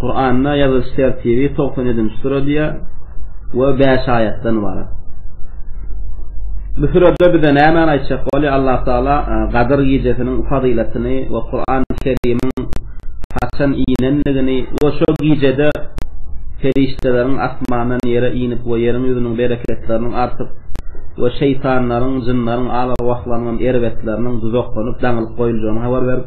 Kur'an'da ýazylyş tertibi 97-nji sure diýýär we 5 aýatdan ibarat. Bu sürede bize näme aýtjak bolýar? Allah Taala e, Gadyr gijesiniň fazylatyny we Kur'an Kerimiň haçan inenligini we şu gijede perişdeleriň asmandan ýere inip we ýeriň ýüzüniň bereketleriniň artyp we şeýtanlaryň, jynlaryň, alarwahlaryň erbetleriniň duzaklanyp, daňylyp goýuljagyny habar berip,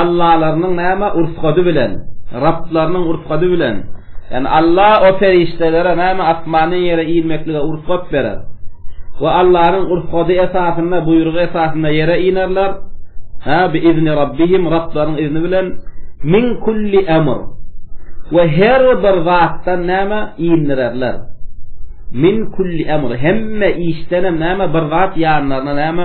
Allalarynyň näme ursady bilen, Rablarynyň ursady bilen, ýagny Alla o perişdelere näme asmandan ýere inmeklige ursat berer we Allanyň ursady esasynda, buýrugy esasynda ýere inerler, hä, bi izni Rabbihim, Rablarynyň izni bilen, min kulli emr, we her bir zatdan näme indirerler, min kulli emr, hemme işdenem näme bir zat ýanlaryna näme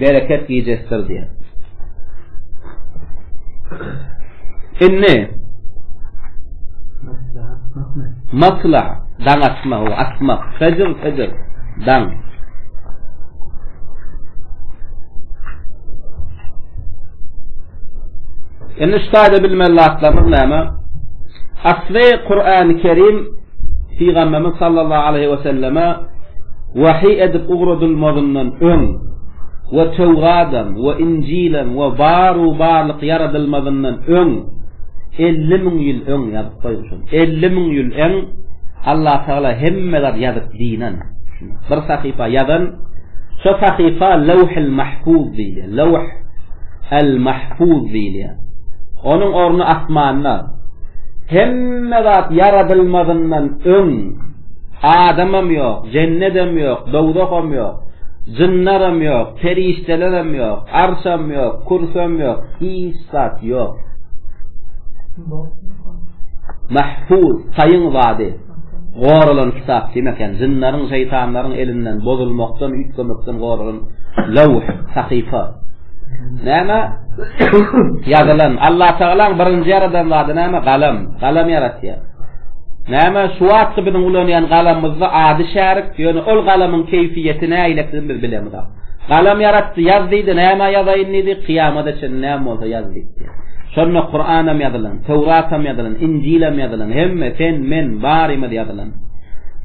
bereket gijesidir diýýär. Indi Matla, daň atma, o atma, fecr, fecr, daň. Indi şu taýda bilmeli zatlarymyz näme? Asly Kur'an-ı Kerim Pygamberimiz sallallahu aleýhi we selleme wahyý edip ugradylmazyndan öň we Töwradam we Injilem we bar-u barlyk ýaradylmazyndan öň elli müň ýyl öň ýazyp goýmuşam. Elli müň ýyl öň Allatagala hemme zat ýazyp dinen. Bir sahypa ýazan, şo sahypa Lawhul Mahfuz diýilýär. Lawh al Mahfuz diýilýär. Onuň orny asmanda. Hemme zat ýaradylmazyndan öň adamam ýok, jennedem ýok, dowzaham ýok. Jynlaram ýok, perişdelerem ýok, arşam ýok, kursam ýok, hiç zat ýok. Mahfuz, taýyň zady. Goralan kitap diýmek, ýagny jynlaryň, şeýtanlaryň elinden, bozulmakdan, üýtgemekden goralan lawh, sahypa. Näme? Ýazylan. Allatagalaň birinji ýaradan zady näme? Galam. Galam ýaratýar. Näme? Şu wagtky biziň ulanýan galamymyzda ady şärik, ýöne ol galamyň keýpiýeti näledigini biz bilemizok. Galam ýaratdy, ýaz diýdi, näme ýazaýyn diýdi, kyýamada çenli näme bolsa. Şonda Kuranam ýazylan, Töwratam ýazylan, Injilam ýazylan, hemme, sen, men, barymyz ýazylan.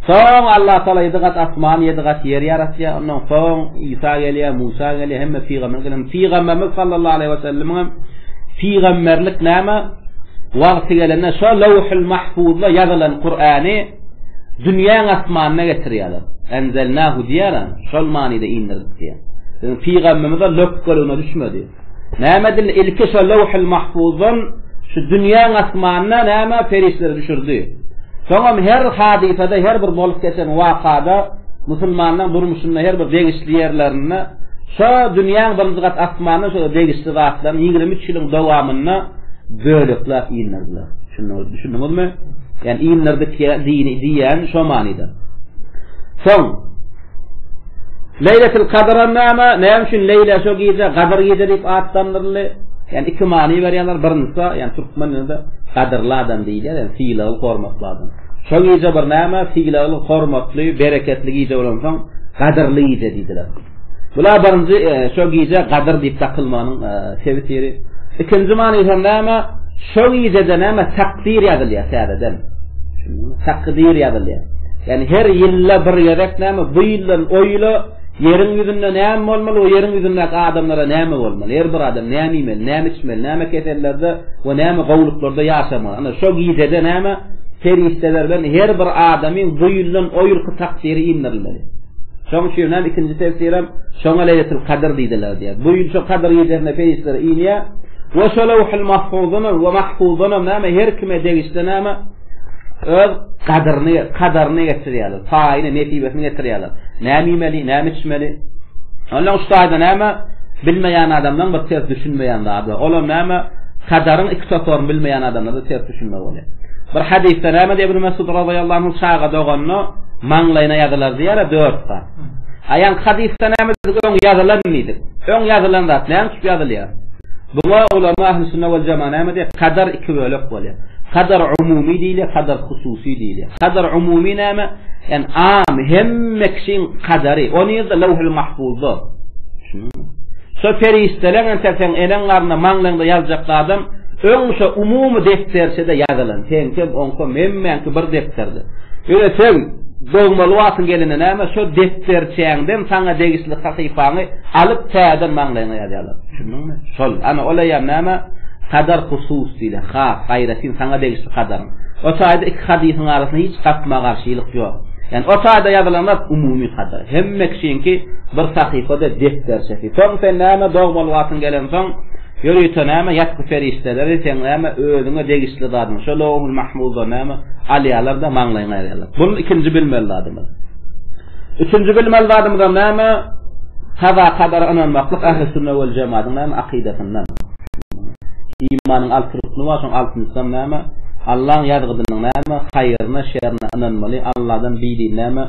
Soň Allah Taala ýedi gat asman, ýedi gat ýer ýaratýar. Ondan soň Isa gelýär, Musa gelýär, hemme pygamber gelýär. Pygamberimiz sallallahu aleýhi we sellemiňem pygamberlik näme? Wagty gelende şo Lawhul Mahfuzda ýazylan Kurany dünýäň asmanyna getirýärler. Enzelnahu diýýärler, şol manyda indirdik diýýär. Pygamberimiz de lök gölüne düşmedi. Näme dil ilki şo löwhül mahfuzdan şu dünýäň asmanyna näme perişdeleri düşürdi. Soňam her hadysada her bir bolup geçen wakada musulmanyň durmuşynda her bir degişli ýerlerinde şo dünýäň birinji gat asmanyna şo degişli zatlaryň ýigrimi üç ýylyň dowamynda bölekläp indirdiler. Şunda düşündiňizmi? Ýani indirdik ýa dini diýýän şo manyda. Soň Leýletil Kadra näme? Näme üçin Leýle şu gije, Gadyr gije diýip atlandyryldy? Ýani iki many berýärler. Birinjisi, ýani türkmen dilinde gadyrly adam diýilýär, ýani sylagly, hormatly adam. Şu gije bir näme? Sylagly, hormatly, bereketli gije bolansoň, gadyrly gije diýdiler. Bula birinji e, şu gije gadyr diýip dakylmanyň e, Tefsiri. Ikinji many hem näme? Şo gijede näme takdyr ýazylýar täzeden. Takdyr ýazylýar. Ýani her ýylda bir gezek näme bu ýyldan o ýyla ýeriň ýüzünde näme bolmaly, o ýeriň ýüzünde adamlara näme bolmaly, her bir adam näme iýmeli, näme içmeli, näme kesellerde we näme gowluklarda ýaşamaly. Ana şo gijede näme perişdelerden her bir adamyň bu ýyldan o ýylky takdyry indirilmeli. Şoň üçin hem ikinji tefsir hem şoňa leýletil kadyr diýdiler diýýär. Bu ýyl şu kadyr gecesinde peýişler inýär. Wa şalawhul mahfuzun wa mahfuzun näme her kime degişli näme öz kadyryny, kadaryny getirýärler. Paýyny, netibesini getirýärler. Näme iýmeli, näme içmeli? Ondan üç taýda näme bilmeýän adamdan bir ses düşünmeýän zat. Olam näme? Kadaryň iki toparyny bilmeýän adamlarda ters düşünme bolýar. Bir hadysda näme diýip Mesud radallahu anhu çaga doganyna maňlaýyna ýazylar diýýär, dört gat. Aýan hadysda näme diýip öň ýazylan diýdik. Öň ýazylan zat näme üçin ýazylýar? Buňa ulama ahli sünnet we jamaa näme diýip kadar iki bölek bolýar. Kadar umumy diýilýär, kadar hususy diýilýär. Kadar umumy näme? En am hemme kişiň kadary. Ony ýerde lawhul mahfuzda. Şunuň. Şo perişdeleň entek seň eneň garnynda, maňlaýyňda ýazyjak zadam öň şo umumy depderçede ýazylan, seňkem, oňkem, hemmäňki bir depderde. Ýöne seň dogmaly wagtyň gelende näme, şo depderçäňden saňa degişli sahypaňy alyp täzeden maňlaýyňa ýazýarlar. Düşündiňmi? Şol. Ana, ol eýýäm näme? Kadar husus diýlen, has, aýratyn saňa degişli kadaryň. O çaýda iki hadysyň arasynda hiç gapma-garşylyk ýok. Ýani o taýda ýazylan zat umumy hadyr. Hemme kişiňki bir sahypada depderçesi. Soň sen näme dogmaly wagtyň gelensoň, ýörite näme ýatgy perişdeleri seň näme özüňe degişli zadyň şo Lowhul Mahmuzdan näme alýarlar-da maňlaýyňa ýazýarlar. Bul ikinji bilmeli zadymyz. Üçünji bilmeli zadymyzam näme? Kaza kadara ynanmaklyk Ähli Sünne wal Jemadyň näme akydasyndan. Imanyň alty rukny bar, şoň altynjysam näme? Allaň ýazgydynyň näme? Haýryna, şerine ynanmaly, Alladan bidin näme?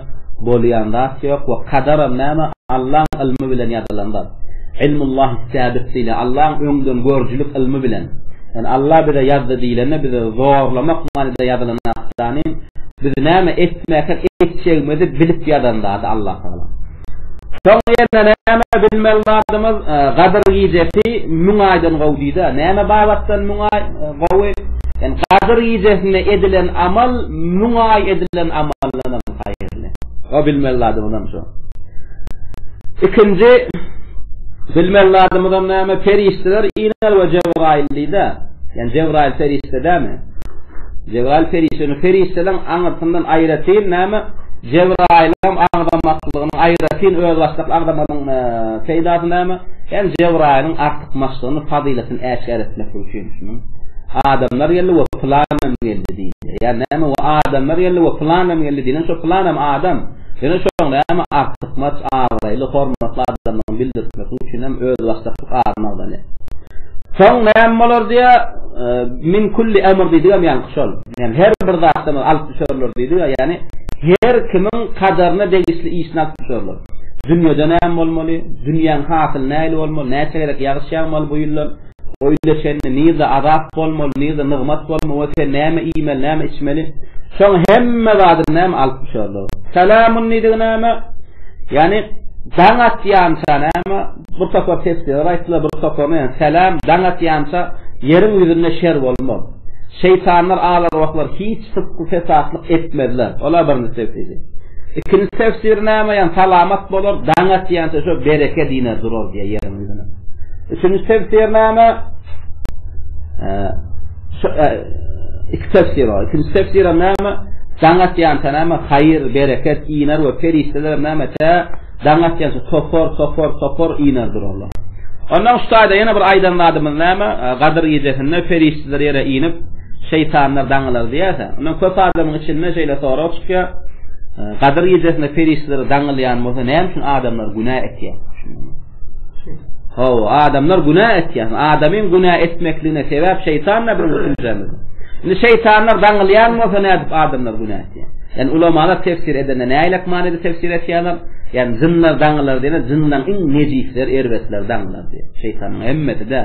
Bolýan zat ýok we kadaram näme? Allaň ylmy bilen ýazylan zat. Ilmullahi sabik diýilýär, Allaň öňden görüjilik ylmy bilen. Ýani Alla bize ýazdy diýilende bizi zorlamak manyda ýazylan zat dani. Biz näme etmäkäk etjegimizi bilip ýazan zady Allatagala. Şoň ýerine näme bilmeli zadymyz, Gadyr gijesi müň aýdan gowy diýdi-ä. Näme babatdan müň aý gowy? Ýani Gadyr gijesinde edilen amal müň aý edilen amaldan hem haýyrly. O bilmeli zadymyzam şo. Ikinji bilmeli zadymyzam näme, perişdeler Inel we Jebraýyl diýdi-ä. Ýani Jebraýyl perişde dämi? Jebraýyl perişdäni, perişdeleriň aňyrsyndan aýratyn näme, Jebraýylam agzamaklygynyň aýratyn özbaşdak agzamanyň peýdasy näme, hem Jebraýylyň artykmaçlygyny, fazylatyny äşgär etmek üçin şunuň, Adamlar geldi we pylanam geldi diýilýär. Ýa näme we adamlar geldi we pylanam geldi diýlen, şo pylanam adam. Ýöne şoň näme artykmaç abraýly, hormatly adamdygyny bildirtmeklik üçinem özbaşdaklyk adyny agzalýar. Soň näme bolar diýýä, min kulli emr diýdigem ýaňky şol. Ýani her bir zatdan alyp düşerler diýdi-ä, ýani her kimiň kadaryna degişli işini alyp düşerler. Dünýede näme bolmaly, dünýäň hasyly nähili bolmaly, näçe gezek ýagyş ýagmaly bu ýyldan, Öýle çenli nirde azap bolmaly, nirde nygmat bolmaly we sen näme iýmeli, näme içmeli? Şoň hemme zadyny näme alyp düşerler? Salamun diýdigi näme? Ýagny daň atýança näme? Bir topar tefsirler aýtdylar, bir toparyna ýa salam daň atýança ýeriň ýüzünde şer bolmaz. Şeýtanlar, al-arwahlar hiç sypky fesatlyk etmezler. Olar birinji tefsiri. Ikinji tefsir näme? Ýagny salamat bolar, daň atýança şo bereket iner durar diýýär ýeriň Üçünji tefsirnama iki tefsir bar. Üçünji tefsir näme? Daňat ýansa näme? Haýyr, bereket, iner we perişdeler näme? Tä daňat ýansa topar, topar, topar iner durarlar. Ondan şu taýda ýene bir aýdan zadymyz näme? Gadyr gecesinde perişdeler ýere inip, şeýtanlar daňalar diýýärse. Ondan köp adamyň içinde şeýle sorag çykýar. Gadyr gecesinde perişdeler daňylýan bolsa, näme üçin adamlar günä etýär? Haw, adamlar günä etýär. Adamyň günä etmekligine sebäp şeýtan näme bilen? Indi şeýtanlar daňylýan bolsa näme edip adamlar günä etýär? Yani ulamada tefsir edende ne aylak manada tefsir etýärler? Yani zynlar daňylar diýene zyndan iň nejisler erbetler daňylar diýär. Şeytanyň hemmesi de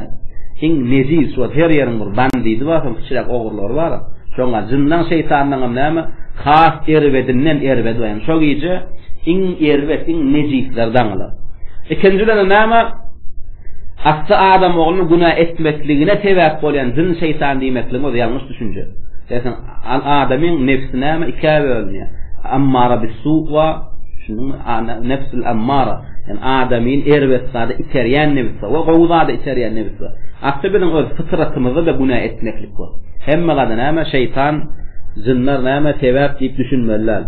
iň nejis we her ýeriň bir bandidi bar, hem kiçiräk ogry Lar bar. Şoňa jyndan şeýtandanam näme, has erbedinden erbedi bar. Ýani şo gije iň erbet, iň nejisler daňylar. Ikinji bilenem näme, asly adam oglunyň günä etmekligine sebäp bolýan jyn şeýtan diýmekligiň özi ýalňyş düşünje. Eýsem adamyň nebsi näme ikä bölünýär. Ammara bis-su bar. Düşündiňmi? Nebsul ammara. Ýani adamyny erbet zada iterýän nebis bar we gowy zada iterýän nebis bar. Asly biziň öz pytratymyzda-da günä etmeklik bar. Hemme zada näme şeýtan, jynlar näme sebäp diýip düşünmeli däl.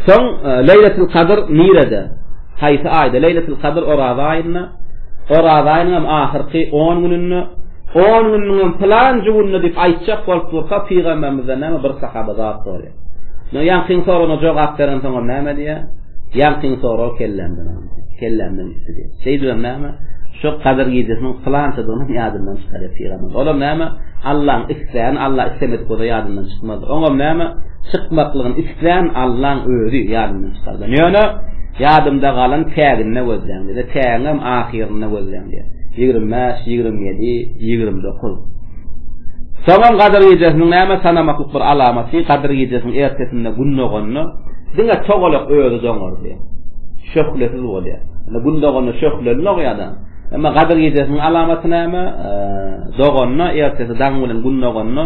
Soň Leýletil Kadr nirede? Haýsy aýda? Leýletil Kadr Oraza aýynda. Oraza aýynyň hem ahyrky 10 gününde. 10 gününiň hem pylanjy gününde diýip aýtjak bolup durka pygamberimizden näme bir sahaba zat sorýar. No ýaňkyň soruna jogap beren soňam näme diýýär? Ýaňkyň sorag kellämden aldy. Kellämden üstü diýýär. Şeýdibem näme? Şu gadyr gijesiniň pylançadygyny ýadyndan çykarýar pygamber. Olam näme? Allaň isleýän, Allah islemedik bolsa ýadyndan çykmaz. Oňam näme? Çykmaklygyny isleýän Allaň özi ýadyndan çykardy. Ýöne ýadymda galan täginde gözleýän. Bize tägem ahyrynda gözleýän diýýär. 25, 27, 29. Soňam Gadyr gijesiniň näme sanamaklyk bir alamaty, Gadyr gijesiniň ertesinde Gün doganda, diňe togalak özi doňardy. Şöhlesiz bolýar. Indi Gün doganda şöhleli dogýar-da. Emma Gadyr gijesiniň alamaty näme? Doganda, ertesi daň bilen Gün doganda,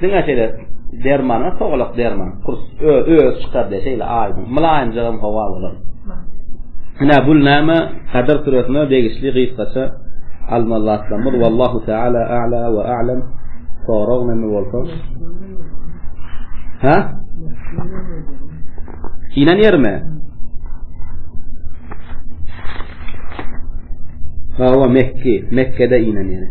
diňe şeýle dermana togalak derman, kurs özi çykar diýär, şeýle aýdyň, mylaýymjagam howa bolar. Ine, bul näme? Kadr süresine degişli gysgaça almazatlamyz. Wallahu taala a'la we a'lam. Sorag näme bolsa? Ha? Inen yerme. Ha, o Mekki. Mekke'de inen yerine.